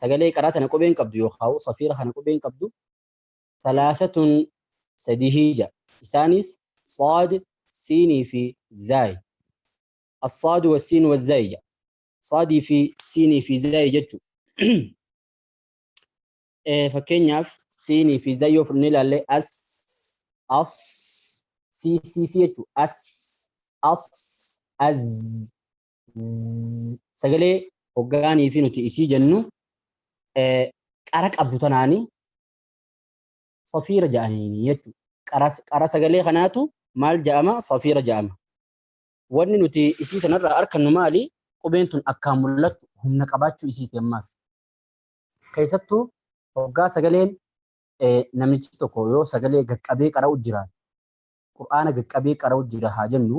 sagalee qaraa tana qubeen qabdu yookaan safiira kana qubeen qabdu salaasatun sadihii ja isaanis saad siinii fi zaay assaad wa siin wa zaay ja saadii fi siinii fi zaay jechu fakkeenyaaf siinii fi zaay yoo fudhannee ilaalle as as si si si jechu as as az sagalee hoggaanii fi nuti isii jennu qara qabdu tanaani safiira ja'aniini jechuudha. Qara sagalee kanaatu maal ja'ama safiira ja'ama. Wanni nuti isii tanarraa arkannu maali? Qubeen tun akkaan mul'attu humna qabaachuu isiiti ammaas. Keessattuu hoggaa sagaleen namichi tokko yoo sagalee gaqqabee qara'u jiraate qur'aana gaqqabee qara'u jira haa jennu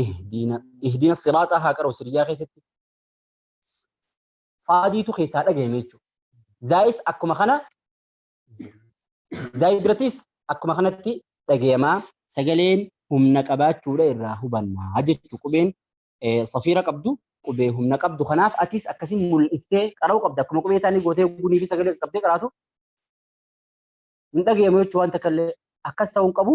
ihdiina ihdiina siraaxaa haa qara'u sirjaa keessatti faadiitu keessaa dhagahame jechuudha. Zaayis akkuma kana zaayi biratis akkuma kanatti dhagahamaa sagaleen humna qabaachuudha irraa hubannaa jechuu qubeen safiira qabdu qubee humna qabdu kanaaf atis akkasii mul'iftee qara'uu qabda akkuma qubee taanii gootee gunii fi sagalee qabdee qaraatu hin dhagahamu jechuu waan takka illee akkas ta'uu hin qabu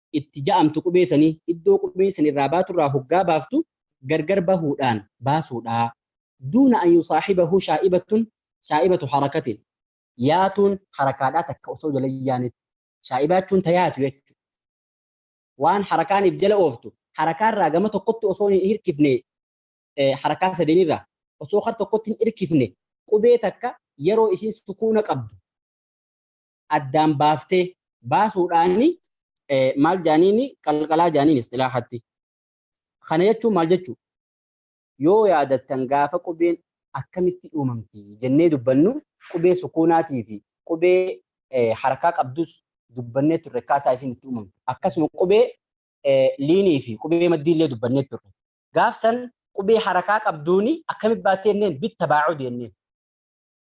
itti ja'amtu qubee sanii iddoo qubeen san irraa baatu irraa hoggaa baaftu gargar bahuudhaan baasuudha. Duuna an yusaahibahu shaa'ibatun shaa'ibatu harakatin yaatuun harakaadhaa takka osoo jala hin yaanetti. Shaa'ibaa jechuun ta yaatu jechu. Waan harakaaniif jala ooftu harakaarraa gama tokkotti osoo hin hirkifne harakaa sadeenirraa osoo kar tokkotti hin hirkifne qubee takka yeroo isiin sukuuna qabdu addaan baaftee baasuudhaani maal jaaniini qalqalaa jaaniin istilaahatti. Kana jechuun maal jechuu? Yoo yaadattan gaafa qubeen akkamitti uumamti jennee dubbannu qubee sukuunaatii fi qubee harakaa qabdus dubbannee turre akkaataa isin itti uumamtu. Akkasuma qubee liinii fi qubee maddii illee dubbannee turre. Gaafsan qubee harakaa qabduuni akkamitti baattee jenneen bitta baacudi jenneen.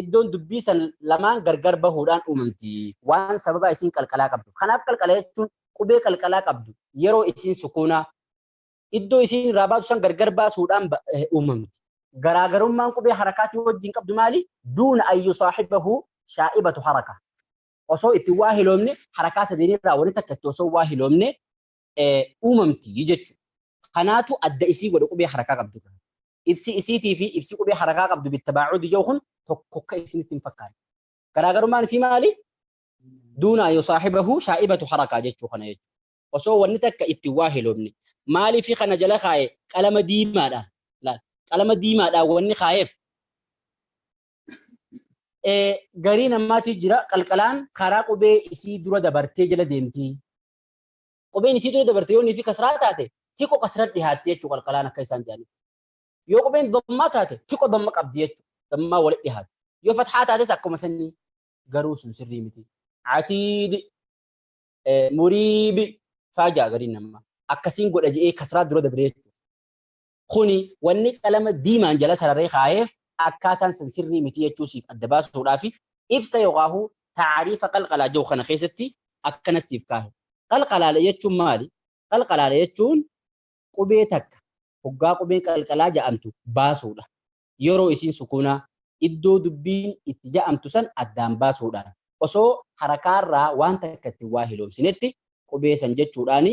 iddoon dubbii san lamaan gargar bahuudhaan uumamti. Waan sababaa isiin qalqalaa qabdu. Kanaaf qalqala jechuun qubee qalqalaa qabdu yeroo isiin sukuunaa iddoo isiin irraa baatu san gargar baasuudhaan uumamti. Garaagarummaan qubee harakaatii wajjin qabdu maali? Duuna ayyu saahibahu shaa'ibatu haraka. Osoo itti waa hiloomne harakaa sadeen irraa wani takka itti osoo waa hiloomne uumamti jechuudha. Kanaatu adda isii godha qubee harakaa qabdu. ibsi isiitii fi ibsi qubee harakaa qabdu bittabaacudi jedhu kun tokko akka isinitti hin fakkaanne. Garaagarummaan isii maali? Duunaa yoo saaxibahu shaa'ibatu harakaa jechuu kana jechuudha. Osoo wanni takka itti waa hiloomne. Maaliif kana jala kaa'e qalama diimaadha. Qalama diimaadha wanni kaa'eef. Garii namaatii jira qalqalaan karaa qubee isii dura dabartee jala deemti. qubeen isii dura dabarte yoo niifi kasraa taate xiqqo kasra dhihaatti jechuu qalqalaan akka isaan jedhanii yoo qubeen dammaa taate xiqqo damma qabdi jechuu dammaa wali dhihaatti yoo fathaa taates akkuma sanii garuu sun sirrii miti atiidi muriibi faajaa gariin namaa akkasiin godha je'ee kasraa dura dabre jechuu Kuni wanni qalama diimaan jala sararee kaayeef akkaataan san sirrii miti jechuu siif adda baasuudhaafi ibsa yookaahu taariifa qalqalaa jedhu kana keessatti akkana siif kaahe. Qalqalaale jechuun maali? Qalqalaale jechuun qubee takka hoggaa qubeen qalqalaa ja'amtu baasuudha. Yeroo isiin sukuunaa, iddoo dubbiin itti ja'amtu san addaan baasuudhaan, osoo harakaarraa waan takka ittiin waa hiloomsinetti qubee san jechuudhaani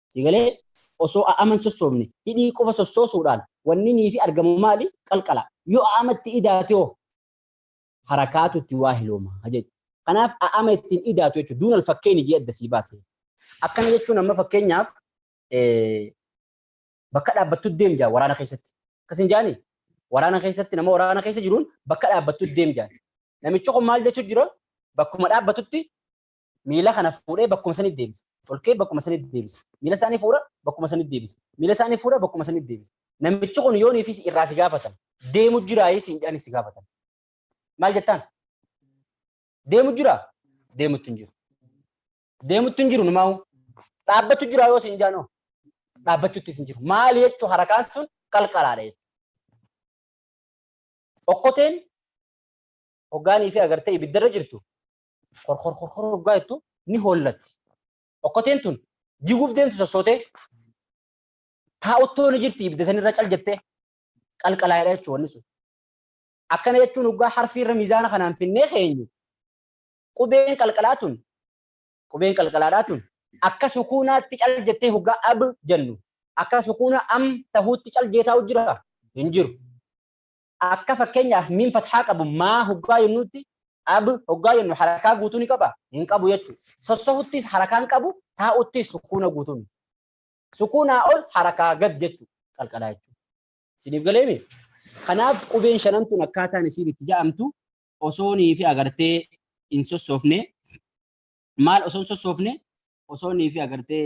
Si galee? Osoo a'ama hin sossoofne, hidhii qofa sossoosuudhaan wanni niifi argamu maali? Qalqala. Yoo a'ama itti idaate hoo? Harakaatu itti waa hilooma jechu. Kanaaf a'ama itti hin idaatu jechu. Duunal fakkeeyni jee adda sii baase. Akkana jechuun amma fakkeenyaaf bakka dhaabbattu deem jaan waraana keessatti. Akkas hin jaani? Waraana keessatti nama waraana keessa jiruun bakka dhaabbattu deem jaan. Namichi kun maal jechu jira? Bakkuma dhaabbatutti miila kana fuudhee bakkuma sanitti deebisa. Tolkee bakkuma sanitti deebisa. Miila isaanii fuudha bakkuma sanitti deebisa. Miila isaanii fuudha bakkuma sanitti deebisa. Namichi kun yoonii fi irraa si gaafatan. Deemu jiraayii siin jedhanii si gaafatan. Maal jettaan? Deemu jiraa? Deemutti hin jiru. Deemutti hin jiru numaa dhaabbachuu jiraa yoo siin jaanoo? Dhaabbachuutti hin jiru. Maal jechuun harakaan sun qalqalaadha jechuudha. Okkoteen hoggaanii fi agartee ibiddarra jirtu korkorkorkor hoggaa jettu ni hollatti. Okkoteen tun jiguuf deemtu sossootee taa'uttoo ni jirti ibidda sanirra cal jettee qalqalaa'edha jechuun wanni sun. Akkana jechuun hoggaa harfiirra miizaana kanaan finnee keenyu qubeen qalqalaa tun qubeen qalqalaadhaa tun akka sukuunaatti cal jettee hoggaa ab jennu akka sukuuna am tahuutti cal jeetaa'u jira hin jiru. Akka fakkeenyaaf miim fathaa qabu maa hoggaa jennuutti ab hoggaa jennu harakaa guutuu ni qaba hin qabu jechuudha. Sossohuttis harakaan qabu taa'uttis sukuuna guutuu miti. Sukuunaa ol harakaa gad jechuudha qalqalaa jechuudha. Isiniif galeemi? Kanaaf qubeen shanan tun akkaataan isiin itti ja'amtu osoo niifi agartee hin sossoofne maal osoo hin sossoofne osoo niifi agartee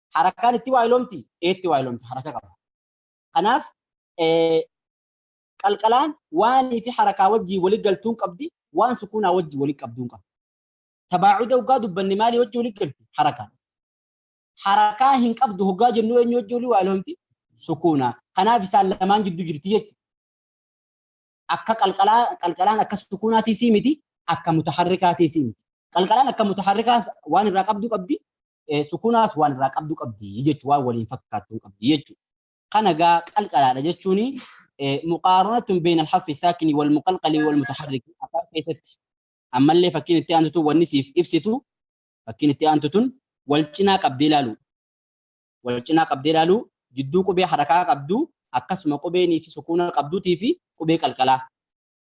Harakkaan itti waayilomti? Eetti waayilomti haraka qaba. Kanaaf qalqalaan waanii fi harakaa wajjii wali galtuun qabdi waan sukuunaa wajjii wali qabduun qabdi. Tabaacuda hoggaa dubbanne maalii wajjii wali galti? Harakaa. Harakaa hin qabdu hoggaa jennu eenyu wajjii wali waayilomti? Sukuunaa. Kanaaf isaan lamaan gidduu jirti jechuudha. akka qalqalaa qalqalaan akka sukuunaatii sii miti akka mutaharrikaatii sii miti. Qalqalaan akka mutaharrikaa waan irraa qabdu qabdi sukunaas waan irraa qabdu qabdi jechuun waan waliin fakkaattu qabdi jechuudha. Kana gaa qalqalaadha jechuun muqaaranatun beeyna alhaffi saakini wal muqalqalii wal mutaharriki afaan keessatti ammallee fakkiin itti aantutu wanni siif ibsitu fakkiin itti aantutun wal cinaa qabdee ilaalu. Wal cinaa qabdee ilaalu jidduu qubee harakaa qabdu akkasuma qubeen fi sukuuna qabduutii fi qubee qalqalaa.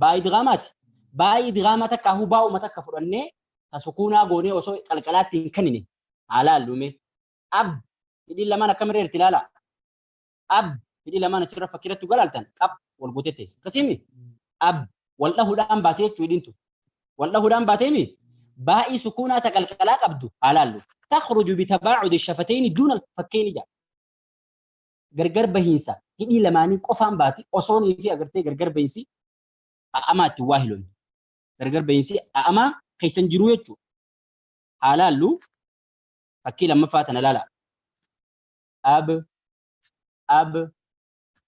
Baa idgaamaati. Baa idgaama takka ahu baa'uma takka fudhannee ta sukuunaa goonee osoo qalqalaatti hin kennine haa laallu mee. Ab hidhiin lamaan akkam irra jirti laalaa. Ab hidhii lamaan achirra fakkiirratti dhugaa laaltan qab wal gootee teessi. Akkasiimi ab wal dhahuudhaan baatee jechuu hidhiin tun. Wal dhahuudhaan baatee mi baa'ii sukuunaa ta qalqalaa qabdu haa laallu. Takhruju bitabaacudi shafatayni duuna fakkayni jaa. gargar bahiinsa hidhii lamaanii qofaan baati osoonii fi agartee gargar bahiinsi a'amaa itti waa hiloon gargar bahiinsi a'amaa keessan jiruu jechuu haa laallu fakkii lammaffaa tana laala ab ab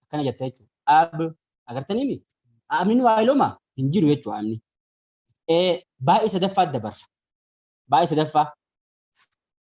akkana jetta jechuu ab agartanii mi a'amni nu waa hilooma hin jiru jechuu a'amni baay'ee sadaffaa dabarra baay'ee sadaffaa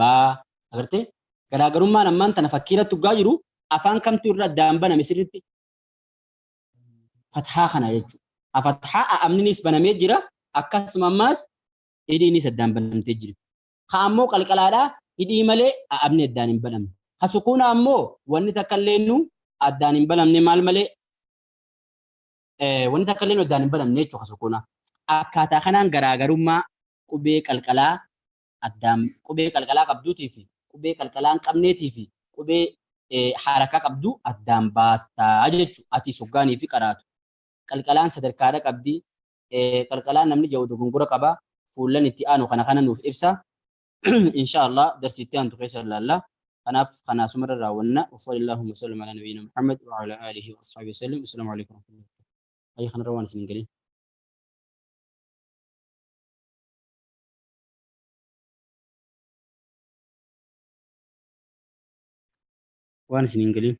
baa agartee garaagarummaan ammaan tana fakkii irratti dhugaa jiru afaan kamtu irra addaan baname sirritti fathaa kana jechuudha. A fathaa a amninis banamee jira akkasuma ammaas hidhiinis addaan banamtee jirti. Ka ammoo qalqalaadhaa hidhii malee a amni addaan hin banamne. Ka sukuuna ammoo wanni takka illee nu addaan hin banamne maal malee wanni takka illee nu addaan hin banamne jechuudha ka sukuuna. Akkaataa kanaan garaagarummaa qubee qalqalaa Addaam qubee qalqalaa qabduutii fi qubee qalqalaa hin qabneetii fi qubee harakaa qabdu addaan baasta jechuudha. Ati soggaanii fi qaraatu. Qalqalaan sadarkaadha qabdi. Qalqalaan namni jedhu dogongora qaba. Fuullan itti aanu kana kana nuuf ibsa. Insha Allah darsi itti aantu keessa ilaalla. Kanaaf kana asumarra raawwanna. Wasallallahu wa sallam ala nabiyyina Muhammad wa ala alihi wa ashabihi wa sallam. Assalamu alaikum wa rahmatullahi wa barakatuh. Ayyi kanarra waan isin hin galin. waan isin hin galiin.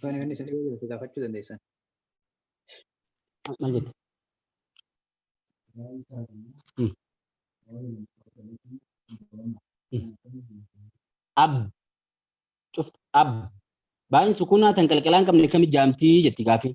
Kan inni isin dhibee jiru gaafachuu dandeessan. Maal jette? Ab. Cufti ab. Baay'een sukunaa tan qalqalaan qabne kami jaamtii jetti gaafii.